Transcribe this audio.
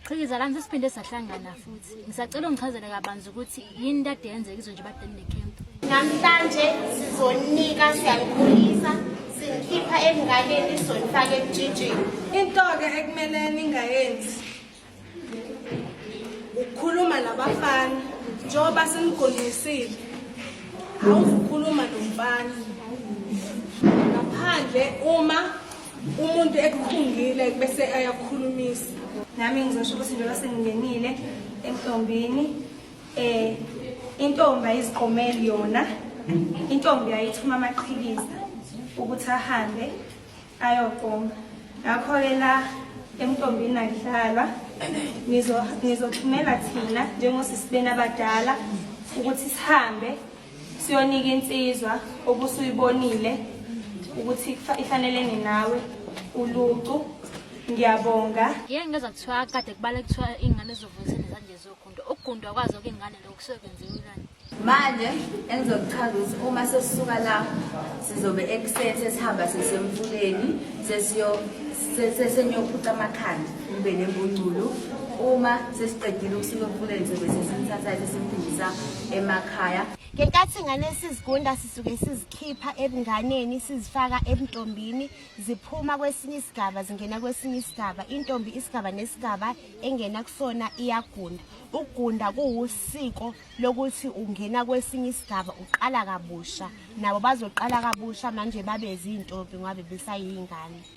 Qhikiza kanti siphinde sahlangana futhi. Ngisacela ungichazele kabanzi ukuthi yini kade yenzeka izwe nje badeni necamp. Namhlanje sizonika siyalikhulisa singikhipha emnganeni izonifaka ekujijini. Into-ke ekumele ningayenzi ukukhuluma nabafana njengoba sinigondisile awuzukhuluma nomfana ngaphandle uma umuntu ekukhungile bese ayakukhulumisa nami ngizosho ukuthi njengoba sengingenile entombini eh intombi ayiziqomeli yona intombi ayithuma amaqhikiza ukuthi ahambe ayoqoma ngakho-ke la emntombini akudlalwa nizothumela thina njengosisibeni abadala ukuthi sihambe siyonika insizwa obusuyibonile ukuthi ifanelene nawe ulucu ngiyabonga ye ngeza kuthiwa kade kubale kuthiwa iy'ngane zovuyisele zanje zogundwa ukugundwa kwazo kuy'ngane lokhu kusuke kwenziwa ilani manje engizokuchaza ukuthi uma sesisuka la sizobe ekuseni sesihamba sesemfuleni sesenyophuca amakhanda kube nembungculu uma sesiqedile ukusuka emfuleni sobe sesimthathayo sesimphindisa emakhaya ngenkathi ingane sizigunda sisuke sizikhipha ebunganeni sizifaka ebuntombini ziphuma kwesinye isigaba zingena kwesinye isigaba intombi isigaba nesigaba engena kusona iyagunda ukugunda kuwusiko lokuthi ungena kwesinye isigaba uqala kabusha nabo bazoqala kabusha manje babe zintombi ngoba besayingane